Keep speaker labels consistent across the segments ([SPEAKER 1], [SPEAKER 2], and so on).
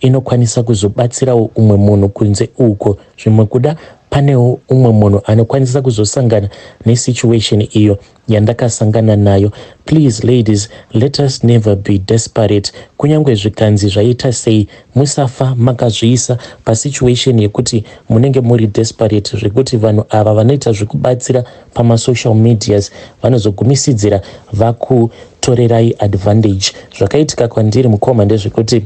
[SPEAKER 1] inokwanisa kuzobatsirawo umwe munhu kunze uko zvimwe kuda panewo umwe munhu anokwanisa kuzosangana nesituation iyo yandakasangana nayo please ladies let us never be desperate kunyange zvikanzi zvaita sei musafa makazviisa pasituation yekuti munenge muri desperate zvekuti vanhu ava vanoita zvekubatsira pamasocial medias vanozogumisidzira vakutorerai advantage zvakaitika kwandiri mukoma ndezvekuti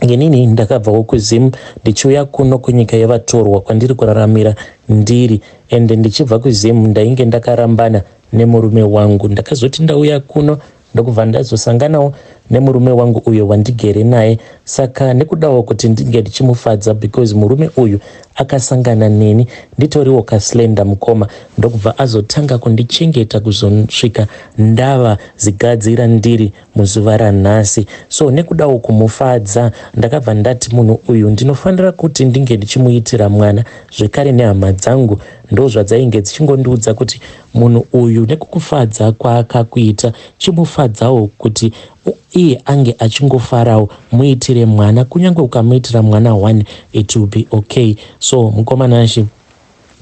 [SPEAKER 1] Inini ndakabvawo kuZim ndichiuya kuno kunyika yevatorwa kwandiri kuraramira ndiri ende ndichibva kuZim ndainge ndakarambana nemurume wangu. Ndakazoti ndauya kuno ndokubva ndazosanganawo nemurume wangu uyo wandigere naye saka nekudawo kuti ndinge ndichimufadza because murume uyu akasangana neni nditoriwo kaslenda mukoma ndokubva azotanga kundichengeta kuzosvika ndava zigadzira ndiri muzuva ranhasi so nekudawo kumufadza ndakabva ndati munhu uyu ndinofanira kuti ndinge ndichimuitira mwana zvekare nehama dzangu ndozvadzainge dzichingondiudza kuti munhu uyu nekukufadza kwaakakuita chimufadzawo kuti iye ange achingofarawo muitire mwana kunyange ukamuitira mwana one it will be okay so mukomana shi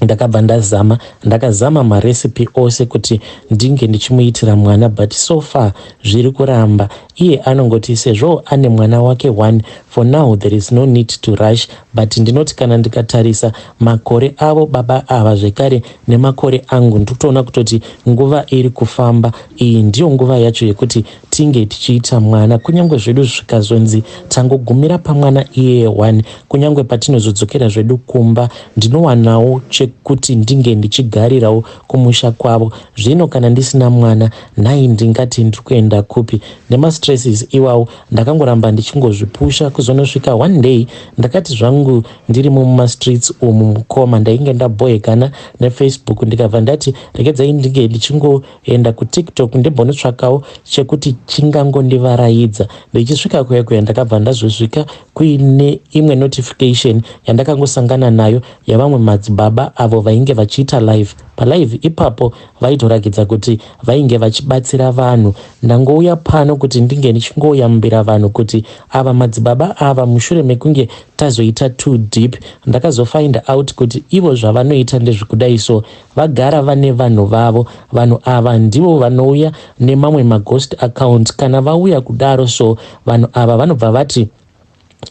[SPEAKER 1] ndakabva ndazama ndakazama marecipe ose kuti ndinge ndichimuitira mwana but so far zviri kuramba iye anongoti sezvo ane mwana wake one for now there is no need to rush but ndinoti kana ndikatarisa makore avo baba ava zvekare nemakore angu ndikutoona kutoti nguva iri kufamba iyi ndiyo nguva yacho yekuti Tinge tichiita mwana kunyangwe zvedu zvikazonzi tangogumira pamwana iyeye one kunyangwe patinozodzokera zvedu kumba ndinowanawo chekuti ndinge ndichigarirawo kumusha kwavo zvino kana ndisina mwana nhai ndingati ndiri kuenda kupi nemastresses iwawo ndakangoramba ndichingozvipusha kuzonosvika one day ndakati zvangu ndirimo mumastreets umu mukoma ndainge ndaboekana nefacebook ndikabva ndati regedzai ndinge ndichingo Enda kutiktok ndimbonotsvakawo chekuti chingangondivaraidza. Ndichisvika kuya kuya ndakabva ndazosvika kuine imwe notification yandakangosangana nayo yavamwe madzibaba avo vainge vachiita live. Palive ipapo vaitorakidza kuti vainge vachibatsira vanhu. Ndangouya pano kuti ndinge ndichingoyambira vanhu kuti ava madzibaba ava mushure mekunge tazoita too deep ndakazofind out kuti ivo zvavanoita ndezvekudai so Vagara vane vanhu vavo. Vanhu ava ndivo vanouya nemamwe maghost accounts. Kana vauya kudaro so vanhu ava vanobva vati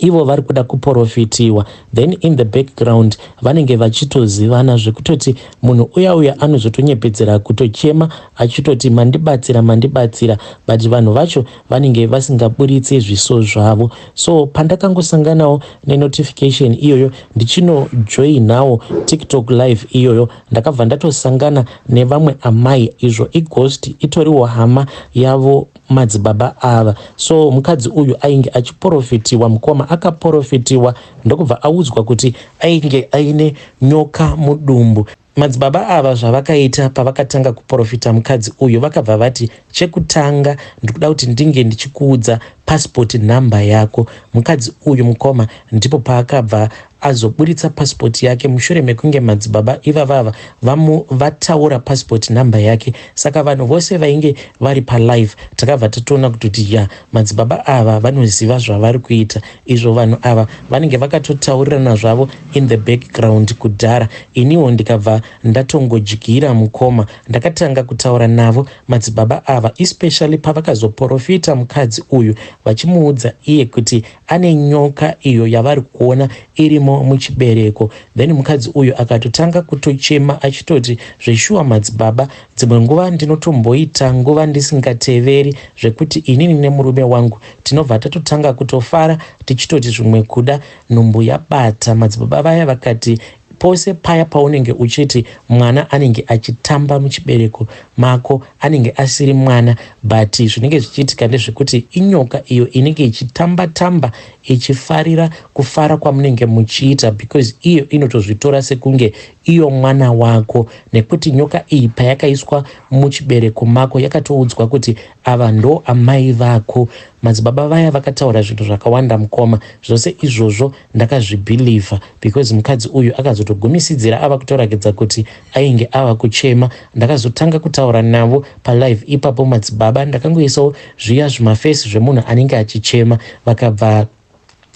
[SPEAKER 1] ivo vari kuda kuporofitiwa then in the background vanenge vachitozivana zvekutoti munhu uya uya anozotonyepedzera kutochema achitoti mandibatsira mandibatsira but vanhu vacho vanenge vasingaburitse zviso zvavo so pandakangosanganawo nenotification iyoyo ndichinojoinawo tiktok live iyoyo ndakabva ndatosangana nevamwe amai izvo ighost itoriwo hama yavo madzibaba ava so mukadzi uyu ainge achiporofitiwa mukoma akaporofitiwa ndokubva audzwa kuti ainge aine nyoka mudumbu Madzibaba ava zvavakaita pavakatanga kuporofita mukadzi uyu vakabva vati chekutanga ndikuda kuti ndinge ndichikuudza passport number yako. Mukadzi uyu mukoma ndipo paakabva azoburitsa passport yake mushure mekunge madzibaba ivavava vamu vataura passport number yake. Saka vanhu vose vainge vari palive takabva tatoona kuti ya madzibaba ava vanoziva zvavari kuita. izvo vanhu ava vanenge vakatotaurirana zvavo in the background kudhara iniwo ndikabva ndatongodyira mukoma ndakatanga kutaura navo madzibaba ava especially pavakazoporofita mukadzi uyu vachimuudza iye kuti ane nyoka iyo yavari kuona irimo muchibereko then mukadzi uyu akatotanga kutochema achitoti zveshuwa madzibaba dzimwe nguva ndinotomboita nguva ndisingateveri zvekuti inini nemurume wangu tinobva tatotanga kutofara tichitoti zvimwe kuda nhumbu yabata madzibaba vaya vakati pose paya paunenge uchiti mwana anenge achitamba muchibereko mako anenge asiri mwana but zvinenge zvichiitika ndezvekuti inyoka iyo inenge ichitamba tamba ichifarira kufara kwamunenge muchiita because iyo inotozvitora sekunge iyo mwana wako nekuti nyoka iyi payakaiswa muchibereko mako yakatoudzwa kuti Ava ndo amai vako. Madzibaba vaya vakataura zvinhu zvakawanda mukoma. Zvose izvozvo ndakazvibhilivha because mukadzi uyu akazotogumisidzira ava kutorakidza kuti ainge ava kuchema. Ndakazotanga kutaura navo palive ipapo madzibaba ndakangoisawo zviya zvimafesi zvemunhu anenge achichema vakabva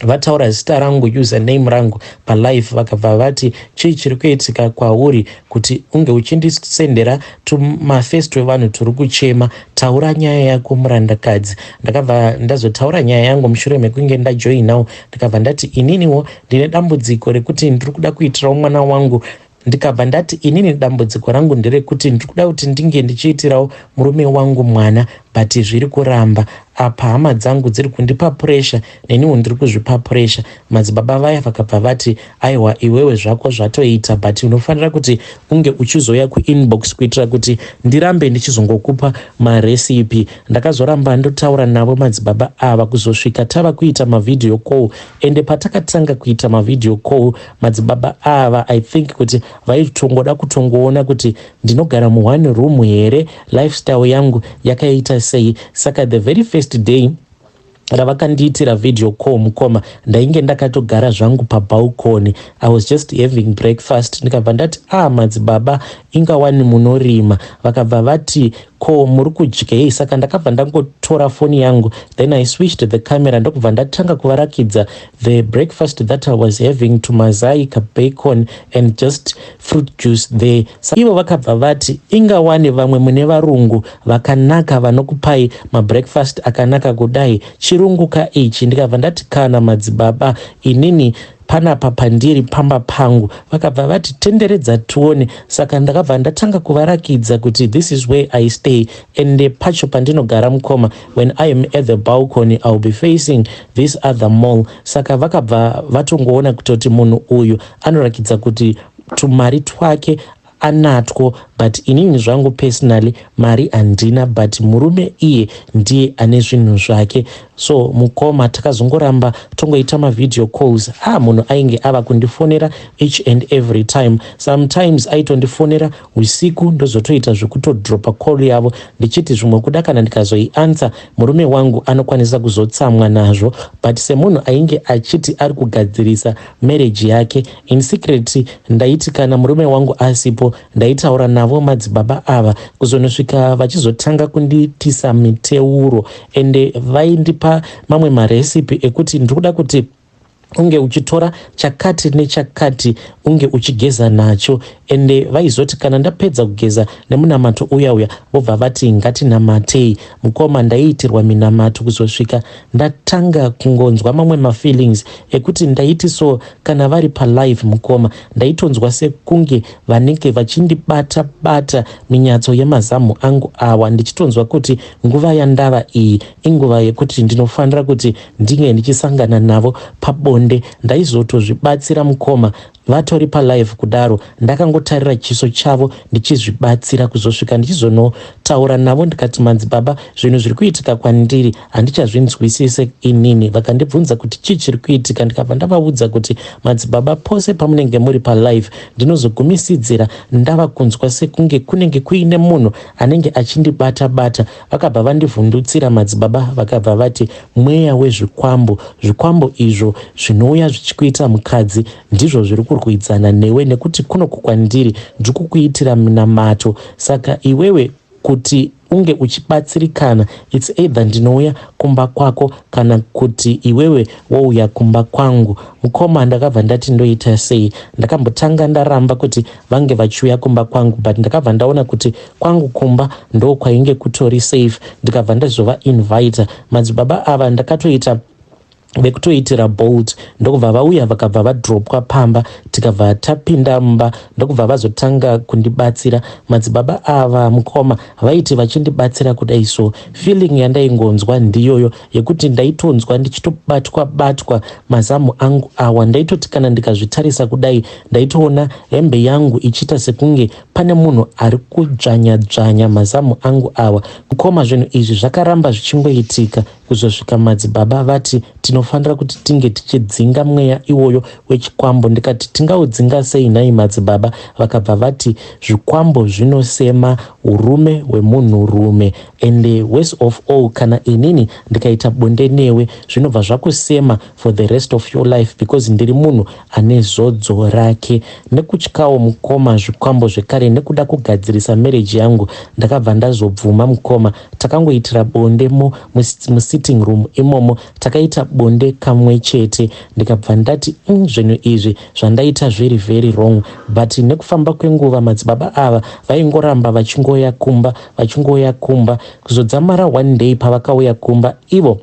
[SPEAKER 1] vataura zita rangu username rangu palive vakabva vati chii chiri kuitika kwauri kuti unge uchindisendera tumafest wevanhu turi kuchema taura nyaya yako murandakadzi ndakabva ndazotaura nyaya yangu mushure mekunge ndajoinawo ndikabva ndati ininiwo ndine dambudziko rekuti ndiri kuda kuitirawo mwana wangu ndikabva ndati inini dambudziko rangu nderekuti ndiri kuda kuti ndinge ndichiitirawo murume wangu mwana but zviri kuramba apa hama dzangu dziri kundipa puresha neniwo ndiri kuzvipa puresha madzibaba vaya vakabva vati aiwa iwewe zvako zvatoita but unofanira kuti unge uchizouya kuinbox kuitira kuti ndirambe ndichizongokupa maresipi ndakazoramba ndotaura navo madzibaba ava kuzosvika tava kuita mavhidhiyo call ende patakatanga kuita mavhidhiyo call Madzibaba ava I think kuti vaitongoda kutongoona kuti ndinogara mu one room here, lifestyle yangu yakaita sei. Saka the very first day ravakandiitira video call mukoma ndainge ndakatogara zvangu pabalcony i was just having breakfast ndikabva ndati ah madzibaba ingawani munorima vakabva vati Ko muri kudyei? Saka ndakabva ndangotora foni yangu then I switched the camera ndokubva ndatanga kuvarakidza the breakfast that I was having to mazai ka bacon and just fruit juice there. Sa ivo vakabva vati ingawani vamwe mune varungu vakanaka vanokupai mabreakfast akanaka kudai chirungu ka ichi ndikabva ndati kana madzibaba inini Panapa pandiri pamba pangu. Vakabva vati tenderedza tione saka ndakabva ndatanga kuvarakidza kuti this is where I stay ende pacho pandinogara mukoma when I am at the balcony I'll be facing this other mall saka vakabva vatongoona kutoti munhu uyu anorakidza kuti tumari twake anatwo but inini zvangu personally mari handina but murume iye ndiye ane zvinhu zvake so mukoma takazongoramba tongoita mavideo calls ha munhu ainge ava kundifonera each and every time sometimes aitondifonera usiku ndozotoita zvekutodropa call yavo ndichiti zvimwe kuda kana ndikazoiansa murume wangu anokwanisa kuzotsamwa nazvo but semunhu ainge achiti ari kugadzirisa marriage yake In secret ndaiti kana murume wangu asipo ndaitaura navo madzibaba ava kuzonosvika vachizotanga kundiitisa miteuro ende vaindipa mamwe marecipe ekuti ndiri kuda kuti unge uchitora chakati nechakati unge uchigeza nacho ende vaizoti kana ndapedza kugeza nemunamato uya uya vobva vati ngatinamatei mukoma ndaiitirwa minamato kuzosvika Ndatanga kungonzwa mamwe mafeelings ekuti ndaiti so kana vari palive mukoma ndaitonzwa sekunge vanenge vachindibata bata minyatso yemazamhu angu awa ndichitonzwa kuti nguva yandava iyi inguva yekuti ndinofanira kuti ndinge ndichisangana navo pabonde ndaizotozvibatsira mukoma Vatori palive kudaro ndakangotarira chiso chavo ndichizvibatsira kuzosvika ndichizonotaura navo ndikati manzi baba zvinhu zviri kuitika kwandiri handichazvinzwisise inini vakandibvunza kuti chii chiri kuitika ndikabva ndavaudza kuti madzibaba pose pamunenge muri palive ndinozogumisidzira ndava kunzwa sekunge kunenge kuine munhu anenge achindibata bata Vakabva vandivhundutsira madzibaba vakabva vati mweya wezvikwambo, zvikwambo izvo zvinouya zvichikuita mukadzi ndizvo zviri kurwidzana newe nekuti kunoku kwandiri ndiri kukuitira minamato saka iwewe kuti unge uchibatsirikana its either ndinouya kumba kwako kana kuti iwewe wouya kumba kwangu mukoma ndakabva ndati ndoita sei ndakambotanga ndaramba kuti vange vachiuya kumba kwangu but ndakabva ndaona kuti kwangu kumba ndo kwainge kutori safe ndikabva ndazova invita madzibaba ava ndakatoita vekutoitira bolt ndokubva vauya vakabva vadropwa pamba tikabva tapinda mumba ndokubva vazotanga kundibatsira madzibaba ava mukoma vaiti vachindibatsira kudai so feeling yandaingonzwa ndiyoyo yekuti ndaitonzwa ndichitobatwa batwa mazamu angu awa ndaitoti kana ndikazvitarisa kudai ndaitoona hembe yangu ichiita sekunge pane munhu ari kudzvanya dzvanya mazamu angu awa kukoma zvinhu izvi zvakaramba zvichingoitika kuzosvika madzibaba vati tinofanira kuti tinge tichidzinga mweya iwoyo wechikwambo ndikati tingaudzinga sei nhai madzibaba vakabva vati zvikwambo zvinosema urume hwemunhurume And worse of all kana inini ndikaita bonde newe zvinobva zvakusema for the rest of your life because ndiri munhu ane zodzo rake. Nekutyawo mukoma zvikwambo zvekare nekuda kugadzirisa marriage yangu ndakabva ndazobvuma mukoma. Takangoitira bonde mo musitting room imomo takaita bonde kamwe chete ndikabva ndati mm, zvinhu izvi zvandaita zviri very wrong but nekufamba kwenguva madzibaba ava vaingoramba vachingoya kumba vachingouya kumba kuzodzamara one day pavakauya kumba ivo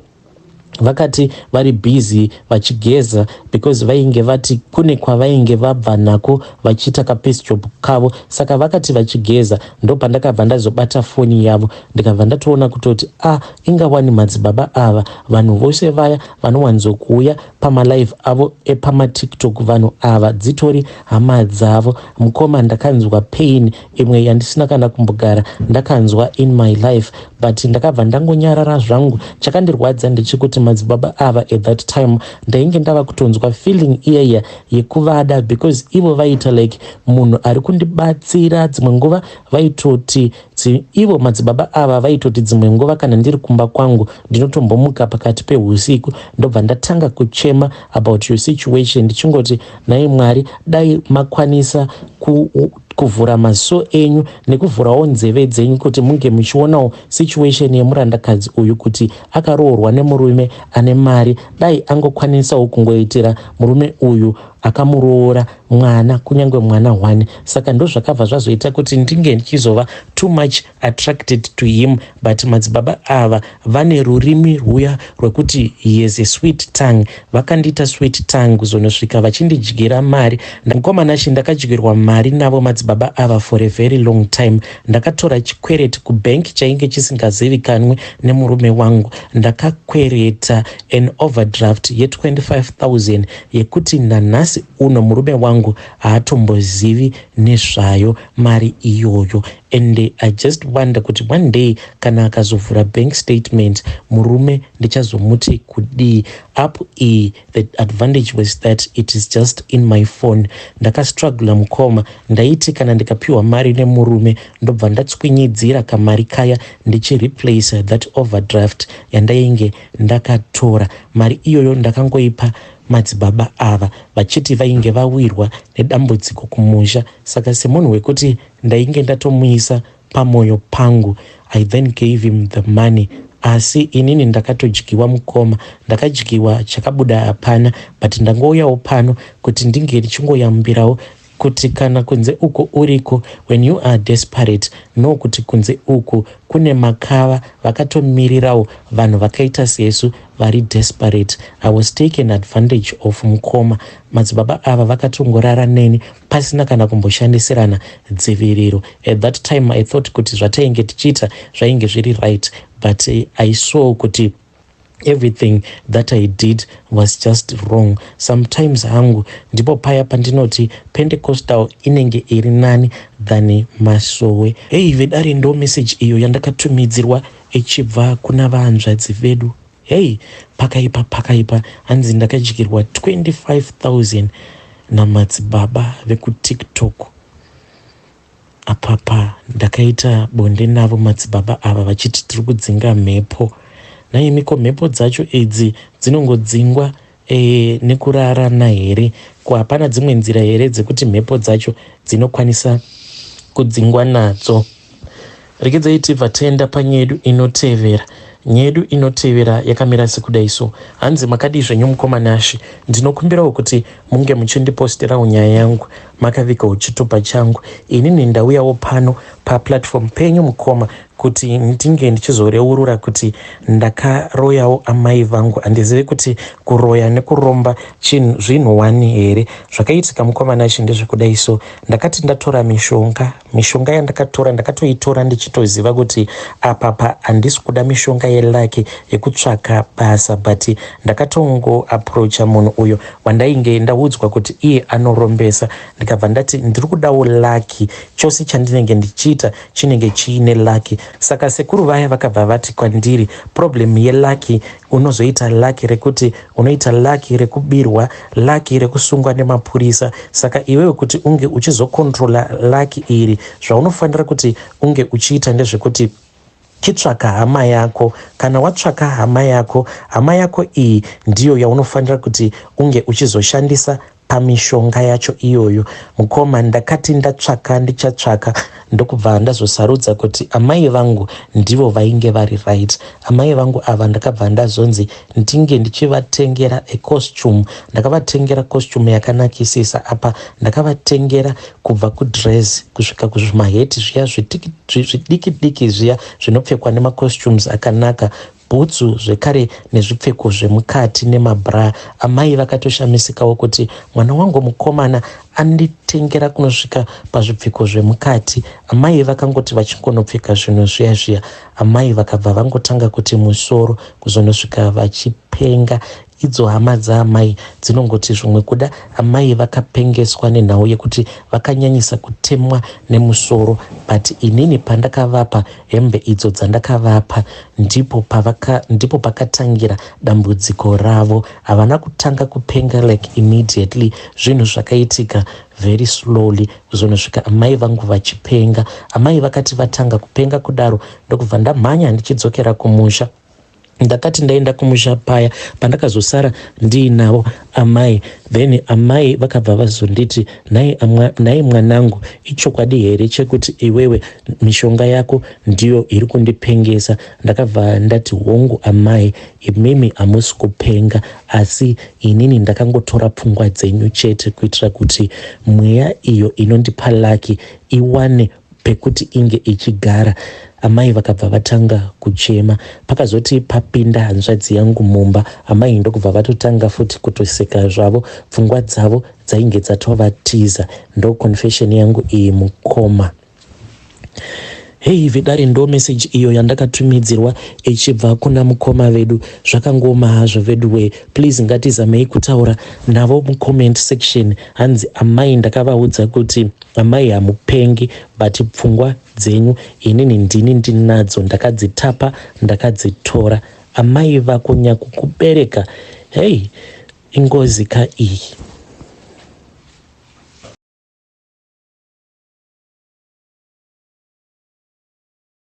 [SPEAKER 1] vakati vari busy vachigeza because vainge vati kune kwavainge vabva nako vachiita kapiece job kavo saka vakati vachigeza ndopandakabva ndazobata foni yavo ndikabva ndatoona kutoti a ah, inga wani madzibaba ava vanhu vose vaya vanowanzokuuya pamalive avo epamatiktok vanhu ava dzitori hama dzavo mukoma ndakanzwa pain imwe yandisina kana kumbogara ndakanzwa in my life but ndakabva ndangonyarara zvangu chakandirwadza ndechekuti madzibaba ava at that time ndainge ndava kutonzwa feeling iyaiya yekuvada because ivo vaiita like munhu ari kundibatsira dzimwe nguva vaitoti ivo madzibaba ava vaitoti dzimwe nguva kana ndiri kumba kwangu ndinotombomuka pakati peusiku ndobva ndatanga kuchema about your situation ndichingoti nhai mwari dai makwanisa ku kuvhura maziso enyu nekuvhurawo nzeve dzenyu kuti munge muchionawo situation yemurandakadzi uyu kuti akaroorwa nemurume ane mari dai angokwanisawo kungoitira murume uyu akamuroora mwana kunyange mwana one saka ndozvakabva zvazoita kuti ndinge ndichizova too much attracted to him but madzibaba ava vane rurimi rwuya rwekuti he has a sweet tongue vakandiita sweet tongue kuzonosvika vachindidyira mari mukoma nashe ndakadyirwa mari navo madzibaba ava for a very long time ndakatora chikwereti kubank chainge chisingazivikanwe nemurume wangu ndakakwereta an overdraft ye25000 yekuti nanhasi uno murume wangu haatombozivi nezvayo mari iyoyo And I just wonder kuti one day kana akazovhura bank statement murume ndichazomuti kudii up iyi the advantage was that it is just in my phone ndakastruggla mukoma ndaiti kana ndikapiwa mari nemurume ndobva ndatswinyidzira kamari kaya ndichireplace that overdraft yandainge ndakatora mari iyoyo ndakangoipa madzibaba ava vachiti vainge vawirwa nedambudziko kumusha saka semunhu wekuti Ndainge ndatomuisa pamoyo pangu I then gave him the money asi inini ndakatodyiwa mukoma ndakadyiwa chakabuda hapana but ndangouyawo pano kuti ndinge ndichingoyambirawo kuti kana kunze uko uriko when you are desperate no kuti kunze uku kune makava vakatomirirawo vanhu vakaita sesu vari desperate i was taken advantage of mukoma madzibaba ava vakatongorara neni pasina kana kumboshandisirana dziviriro. At that time I thought kuti zvatainge tichiita zvainge zviri right but I saw kuti everything that i did was just wrong sometimes hangu ndipo paya pandinoti pentecostal inenge iri nani than masowe hei vedare ndo message iyo yandakatumidzirwa ichibva kuna vahanzvadzi vedu Hey pakaipa pakaipa hanzi ndakadyirwa 25000 namadzibaba vekutiktok apapa ndakaita bonde navo madzibaba ava vachiti tiri kudzinga mhepo naimiko mhepo dzacho idzi dzinongodzingwa E, nekurarana here? Ko hapana dzimwe nzira here dzekuti mhepo dzacho dzinokwanisa kudzingwa nadzo? Rekedzayi tibva tenda panyedu inotevera. Nyedu inotevera yakamira sekudai so. Hanzi makadii zvenyu mukoma Nashi? Ndinokumbirawo kuti munge muchindipostirawo nyaya yangu makavikawo chitupa changu. Inini ndauyawo pano paplatform penyu mukoma kuti ndinge ndichizoreurura kuti ndakaroyawo amai vangu handizive kuti kuroya nekuromba chinhu zvinhu wani here zvakaitika mukomana ichi ndezvekudai so ndakati ndatora mishonga mishonga yandakatora ndakatoitora ndichitoziva kuti apapa handisi kuda mishonga yelaki yekutsvaka basa but ndakatongo aproacha munhu uyo wandainge ndaudzwa kuti iye anorombesa ndikabva ndati ndiri kudawo laki chose chandinenge ndichiita chinenge chiine lucky saka sekuru vaya vakabva vati kwandiri problem yelucky unozoita lucky rekuti unoita lucky rekubirwa lucky rekusungwa nemapurisa saka iwewe kuti unge uchizokontrola lucky iri zvaunofanira kuti unge uchiita ndezvekuti chitsvaka hama yako kana watsvaka hama yako hama yako iyi ndiyo yaunofanira kuti unge uchizoshandisa pamishonga yacho iyoyo mukoma ndakati ndatsvaka ndichatsvaka ndokubva ndazosarudza kuti amai vangu ndivo vainge vari right amai vangu ava ndakabva ndazonzi ndinge ndichivatengera ecostume ndakavatengera costume yakanakisisa apa ndakavatengera kubva kudress kusvika kuzvimaheti zviya zvidiki diki zviya zvinopfekwa nemacostumes akanaka bhutsu zvekare nezvipfeko zvemukati nemabra amai vakatoshamisikawo kuti mwana wangu mukomana anditengera kunosvika pazvipfeko zvemukati amai vakangoti vachingonopfeka zvinhu zviya zviya amai vakabva vangotanga kuti musoro kuzonosvika vachipenga Idzo hama dzaamai dzinongoti zvimwe kuda amai vakapengeswa nenhau yekuti vakanyanyisa kutemwa nemusoro but inini pandakavapa hembe idzo dzandakavapa ndipo, pavaka, ndipo pakatangira dambudziko ravo. Havana kutanga kupenga like immediately, zvinhu zvakaitika very slowly kuzonosvika amai vangu vachipenga. Amai vakati vatanga kupenga kudaro ndokubva ndamhanya ndichidzokera kumusha. ndakati ndaenda kumusha paya pandakazosara ndiinavo amai then amai vakabva vazonditi nhai mwanangu ichokwadi here chekuti iwewe mishonga yako ndiyo iri kundipengesa ndakabva ndati hongu amai imimi hamusi kupenga asi inini ndakangotora pfungwa dzenyu chete kuitira kuti mweya iyo inondipa laki iwane pekuti inge ichigara. Amai vakabva vatanga kuchema. Pakazoti papinda hanzvadzi yangu mumba, amai ndokubva vatotanga futi kutoseka zvavo. Pfungwa dzavo dzainge dzatovatiza. Ndo confession yangu iyi mukoma. Hei vedare ndo message iyo yandakatumidzirwa ichibva kuna mukoma vedu. Zvakangooma hazvo veduwee, please ngatizamei kutaura navo mucomment section. Hanzi amai ndakavaudza kuti Amai hamupengi but pfungwa dzenyu inini ndini ndinadzo ndakadzitapa ndakadzitora amai vako nyakukubereka hey ingozi ka iyi.